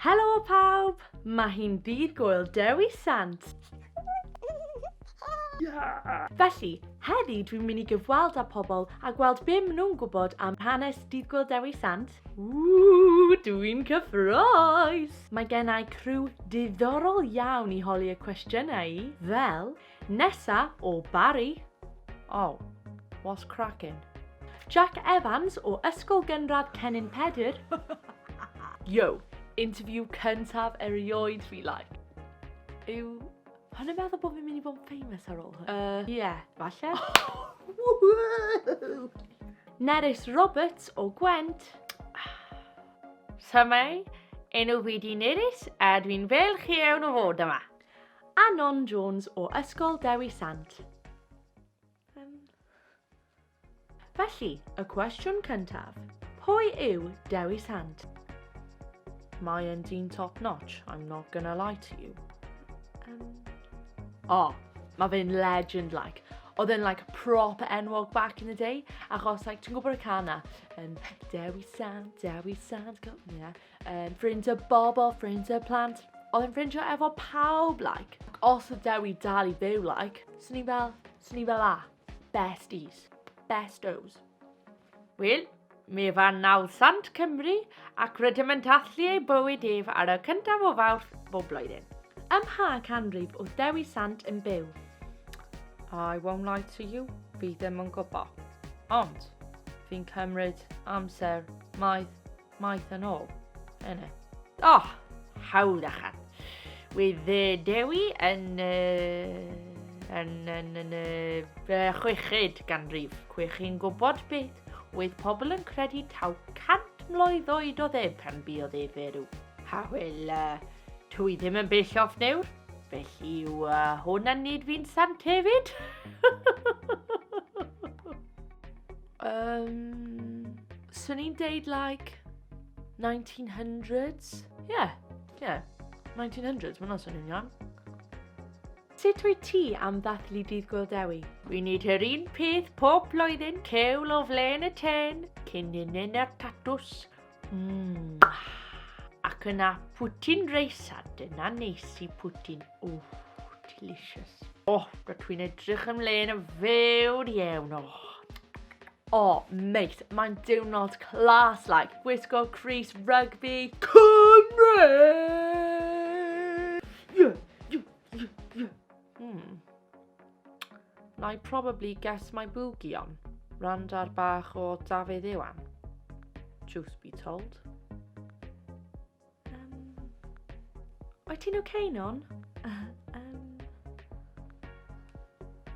Helo pawb! Mae hi'n ddydd Gŵyl Dewi Sant! Felly, heddi dwi'n mynd i gyfweld â pobl a gweld be maen nhw'n gwybod am hanes Dydd Gŵyl Dewi Sant. Ww, dwi'n cyffroes! Mae gennau criw diddorol iawn i holi y cwestiynau i, fel, Nesa o Barry. Oh, what's cracking? Jack Evans o Ysgol Gynradd Cennin Pedr. Yo, interview cyntaf erioed fi like. Yw Hwn yn meddwl bod fi'n mynd i bod yn famous ar ôl hwn? Uh, ie, yeah, falle. Nerys Roberts o Gwent. Symau, enw fi di Nerys a dwi'n fel chi ewn o fod yma. A Non Jones o Ysgol Dewi Sant. Felly, y cwestiwn cyntaf. Pwy yw Dewi Sant? Mae yn dyn top notch, I'm not gonna lie to you. Um, o, oh, mae fe'n legend like. Oedd e'n like prop enwog back in the day, achos like, ti'n gwybod y can na? Um, Dewi Sant, Dewi Sant, yeah. Um, ffrindiau bobl, ffrindiau plant. Oedd yn ffrindiau efo pawb, like. Os oedd Dewi dal i fyw, like, swn i fel, swn i fel a, besties, bestos. Wel, mi fa 900 Cymru ac rydym yn dathlu ei bywyd ef ar y cyntaf o fawrth bob blwyddyn. Ym mha canrif oedd Dewi Sant yn byw? I won't lie to you, fi ddim yn gwybod. Ond, fi'n cymryd amser maith Maeth yn ôl. Yna. Oh, hawl achan. Wydd uh, Dewi yn... Uh, yn, yn, yn, yn uh, chweched ganrif. Cwech chi'n gwybod beth oedd pobl yn credu taw cant mlwydd oed oedd e pan buodd e ferw. Ha wel, uh, twy ddim yn bell off newr, felly yw uh, hwn yn nid fi'n sant hefyd. Um, Swn i'n deud like 1900s. Ie, yeah, ie. Yeah. 1900s, mae'n swnio'n iawn. Sut wyt ti am ddathlu dydd Gwyl Dewi? We need her un peth pob blwyddyn, cewl o flaen y ten, cyn yn yn y tatws. Mmm. Ac yna pwtyn reis a dyna neis i pwtyn. Oh, delicious. Oh, rydw i'n edrych ymlaen yn fawr iawn. Oh. Oh, mate, mae'n diwrnod clas, like, gwisgo Chris Rugby Cymru! Hmm. Na i probably get my boogie on. Randar bach o Dafydd Iwan. Truth be told. Um, oed ti'n okay non? um,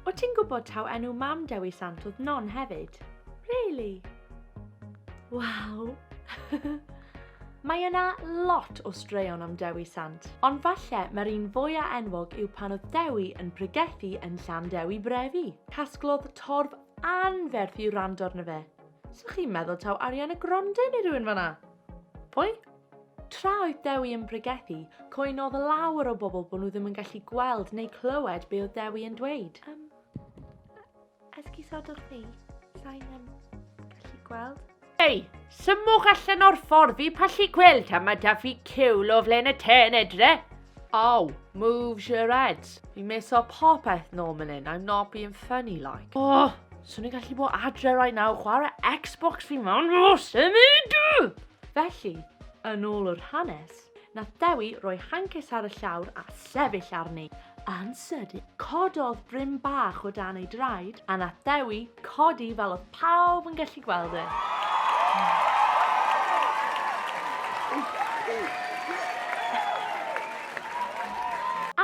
oed ti'n gwybod taw enw mam Dewi Sant oedd non hefyd? Really? Waw! Mae yna lot o straeon am Dewi Sant, ond falle mae'r un fwya enwog yw pan oedd Dewi yn pregethu yn Llan Dewi Brefi. Casglodd torf anferth i wrando arno fe. So chi'n meddwl taw Ariana Grande neu rhywun fanna? Pwy? Tra oedd Dewi yn pregethu, coenodd lawer o bobl bod nhw ddim yn gallu gweld neu clywed be oedd Dewi yn dweud. Um, Esgusodwch ni, sain yn gallu gweld. Ei, symwch allan o'r ffordd fi pallu gweld a mae da fi cewl o flaen y ten edre. Oh, moves your heads. Fi'n miso popeth nôl mynd in, I'm not being funny like. Oh, swn i'n gallu bod adre right now, chwarae Xbox fi mewn, oh, symud! Felly, yn ôl yr hanes, Nath Dewi roi hances ar y llawr a sefyll arni. Yn sydyn, cododd brim bach o dan ei draed a nath Dewi codi fel oedd pawb yn gallu gweld e.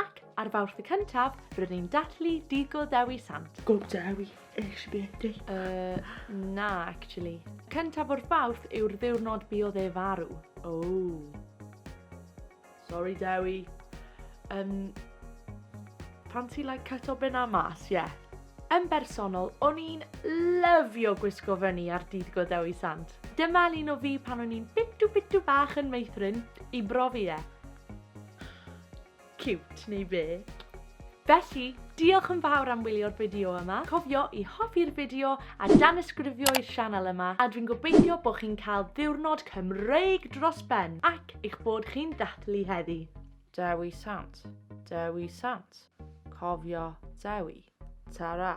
Ac ar Fawrth y cyntaf, rydyn ni'n dathlu Dydd Go Dewi Sant. Go Dewi! Ysbyty. Uh, na, actually. Cyntaf o'r fawrth yw'r ddiwrnod buodd e farw. Oh. Sorry, Dewi. Um, pan ti like cut o bena mas, ie. Yeah. Yn bersonol, o'n i'n lyfio gwisgo fyny ar dydd go Dewi Sant. Dyma un o fi pan o'n i'n bitu bitu bach yn meithrin i brofi e. Cute, neu be? Felly, diolch yn fawr am wylio'r fideo yma, cofio i hoffi'r fideo a danysgrifio i'r sianel yma a dwi'n gobeithio bod chi'n cael ddiwrnod Cymreig dros ben ac eich bod chi'n ddathlu heddi. Dewi Sant, Dewi Sant, cofio Dewi, ta-ra!